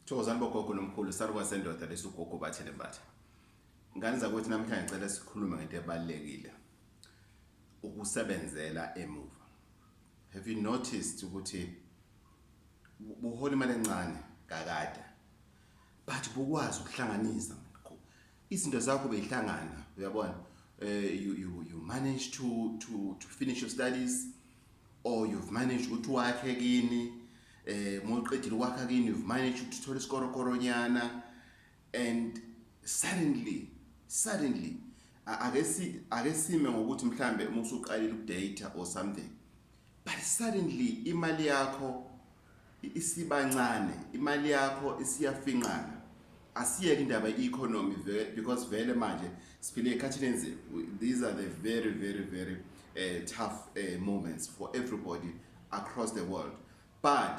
Thokozani bogogo nomkhulu saluka sendoda lesugogo bathele mbatha ngane zakwethu namhlanje ngicela sikhulume ngento ebalulekile ukusebenzela emuva have you noticed ukuthi buhola imali encane kakade but bukwazi ukuhlanganisa izinto zakho beyihlangana uyabona eh you you you manage to to to finish your studies or you've managed ukuthi wakhe kini eh moqedile kwakha kini you've managed ukuthi uthole isikorokoronyana and suddenly suddenly ake si ake sime ngokuthi mhlambe uma usuqalile ukudata or something but suddenly imali yakho isibancane imali yakho isiyafinqana asiyeke indaba i-economy because vele manje siphile ekhathini enzima these are the very very very uh, tough uh, moments for everybody across the world but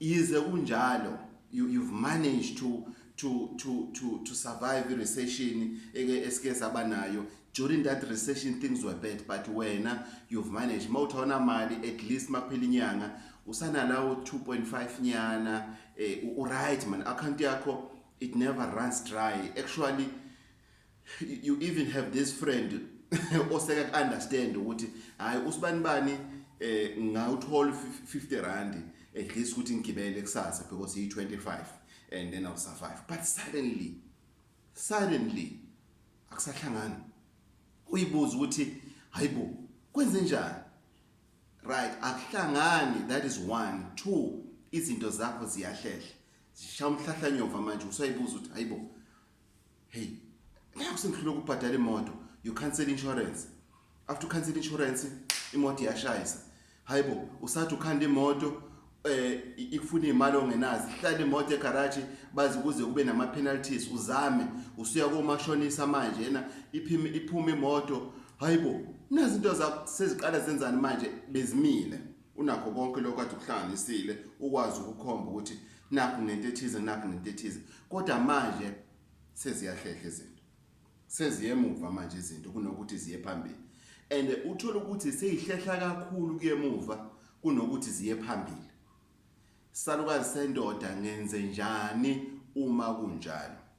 yize kunjalo you, you've managed to to to to to survive recession eke esike saba nayo during that recession things were bad but wena you've managed mawuthona mali at least makuphela inyanga usanalawo 2.5 nyana eh, u right man account yakho it never runs dry actually you even have this friend oseka ku understand ukuthi hayi usibani bani eh ngawuthola 50 rand at least ukuthi ngigibele kusasa because he 25 and then I'll survive but suddenly suddenly akusahlangani uyibuza ukuthi hayibo kwenze njani right akuhlangani that is one two izinto zakho ziyahlehla zishaya umhlahlanyova manje usayibuza ukuthi hayibo hey ngeke usengihlule ukubhadala imoto you cancel insurance after cancel insurance imoto iyashayisa hayibo usathi ukhanda imoto eh ikufuna imali ongenazi hlala imoto egarage bazi kuze kube nama penalties uzame usuya komashonisa manje yena iphime iphume imoto hayibo nazi into zakho seziqala zenzani manje bezimile Unakho konke lokho kade ukuhlanganisile ukwazi ukukhomba ukuthi nakho ngento ethize nakho ngento ethize kodwa manje seziyahlehla izinto seziye emuva manje izinto kunokuthi ziye phambili and uthola ukuthi seyihlehla kakhulu kuyemuva kunokuthi ziye phambili salukazi sendoda ngenze njani uma kunjalo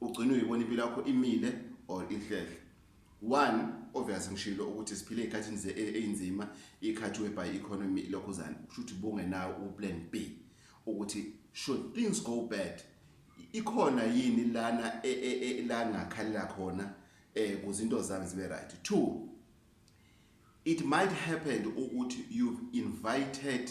ugcina uyibona impilo yakho imile or inhlehle one obvious ngishilo ukuthi siphile ezikhathini ze einzima ikhathi whereby economy ilokhuzana kushuthi bungenawo uplan B ukuthi should things go bad ikhona yini lana e, e, e, la ngakhalela khona eh kuzinto zami zibe right two it might happen ukuthi you've invited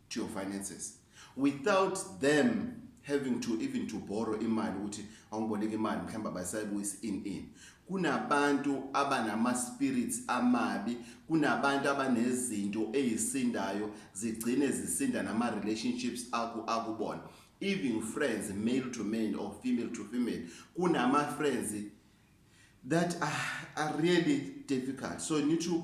to your finances without them having to even to borrow imali ukuthi awungiboleka imali mhlawumbe abasayibuyisi in in kunabantu abanama spirits amabi kunabantu abanezinto ezisindayo zigcine zisinda nama relationships aku akubona even friends male to male or female to female kunama friends that are, are really difficult so you need to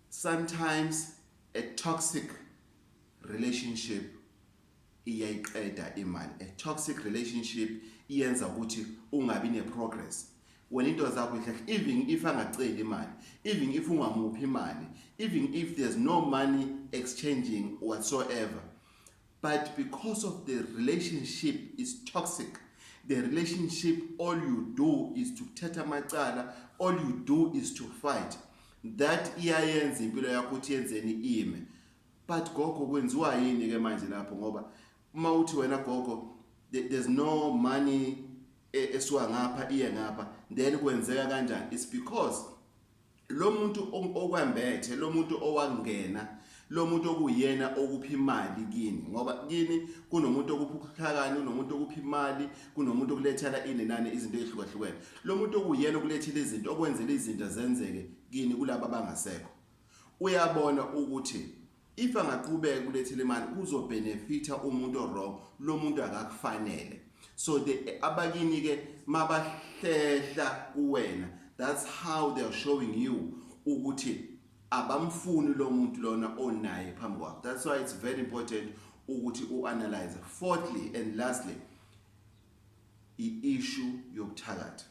Sometimes a toxic relationship iyayiqeda imali. A toxic relationship iyenza ukuthi ungabi ne progress. Wena into zakho ihle even if angaceli imali, even if ungamuphi imali, even if there's no money exchanging whatsoever. but because of the relationship is toxic the relationship all you do is to kuthatha amacala all you do is to fight that iyayenza impilo yakho ukuthi yenzeni ime but gogo kwenziwa yini ke manje lapho ngoba uma uthi wena gogo there's no money e, esuka ngapha iye ngapha then kwenzeka kanjani it's because lo muntu okwembethe lo muntu owangena lo muntu okuyena okuphi imali kini ngoba kini kunomuntu okuphi ukuhlakani kunomuntu okuphi imali kunomuntu okulethela inenani izinto ezihlukahlukene lo muntu okuyena okulethela izinto okwenzela izinto zenzeke kini kulabo abangasekho uyabona ukuthi If angaqhubeka kulethi lemali kuzo benefita umuntu owrong lo muntu akakufanele so the abakini ke mabahlehla kuwena that's how they are showing you ukuthi abamfuni lo muntu lona onaye phambi kwakho that's why it's very important ukuthi uanalyze fourthly and lastly i-issue yokuthakatha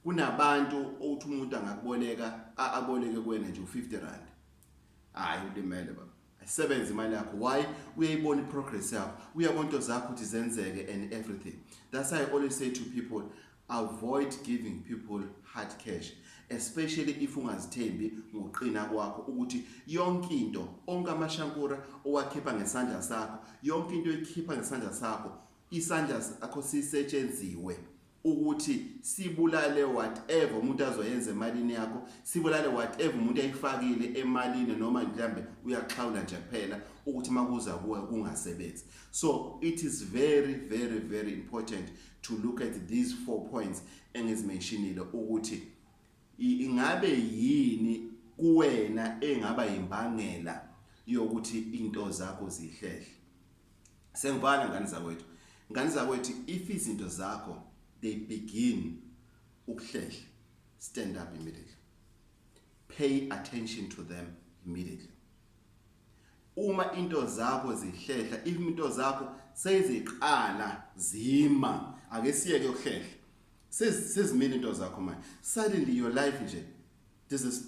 kunabantu othi umuntu angakuboleka aboleke kuwena nje u50 rand hayi ulimele baba sebenza imali yakho why uyayibona iprogress yakho uyabona into zakho ukuthi zenzeke and everything that's why i always say to people avoid giving people hard cash especially if ungazithembi ngokuqina kwakho ukuthi yonke into onke amashankura owakhipha ngesandla sakho yonke into ekhipha ngesandla sakho isandla sakho sisetshenziwe ukuthi sibulale whatever umuntu azoyenza emalini yakho sibulale whatever umuntu ayifakile emalini noma mhlambe uyaxhawula nje kuphela ukuthi makuza kuwe kungasebenzi so it is very very very important to look at these four points engizimentionile ukuthi ingabe yini kuwena engaba imbangela yokuthi into zakho zihlehle Sengibhala ngani zakwethu. Ngani zakwethu if izinto zakho they begin ukuhlehla stand up immediately. Pay attention to them immediately. Uma into zakho zihlehla, if into zakho seziqala zima, ake siyeke ukuhlehla. Sezimile into zakho manje. Suddenly your life nje this is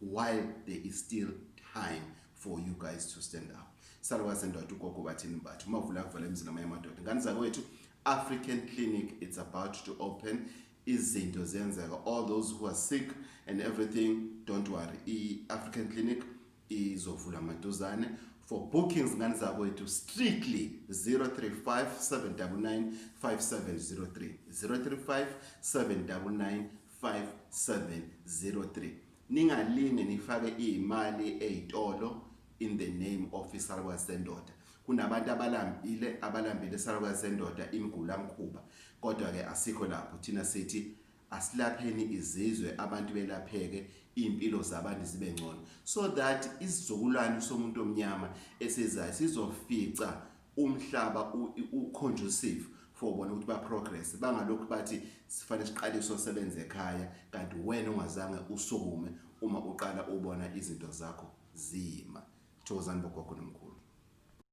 while there is still time for you guys to stand up saluka sendoda ugogo bathini mbathu umavula akuvala emzini amanye amadoda ngani zakwethu african clinic it's about to open izinto ziyenzeka all those who are sick and everything don't worry i-african clinic izovula maduzane for bookings ngani zakwethu strictly 035 799 5703 035 799 5703 ningalinge nifake imali ezitolo in the name of isalukazi sendoda kunabantu abalambile abalambile isalukazi sendoda imgula mkhuba kodwa ke asikho lapho thina sithi asilapheni izizwe abantu belapheke impilo zabantu zibe ngcono so that isizukulwane somuntu omnyama esizayo sizofica umhlaba uconducive for bona ukuthi baprogress bangalokhu bathi sifanele siqale sosebenza ekhaya kanti wena ungazange usukume uma uqala ubona izinto zakho zima thokozani bogogo nomkhulu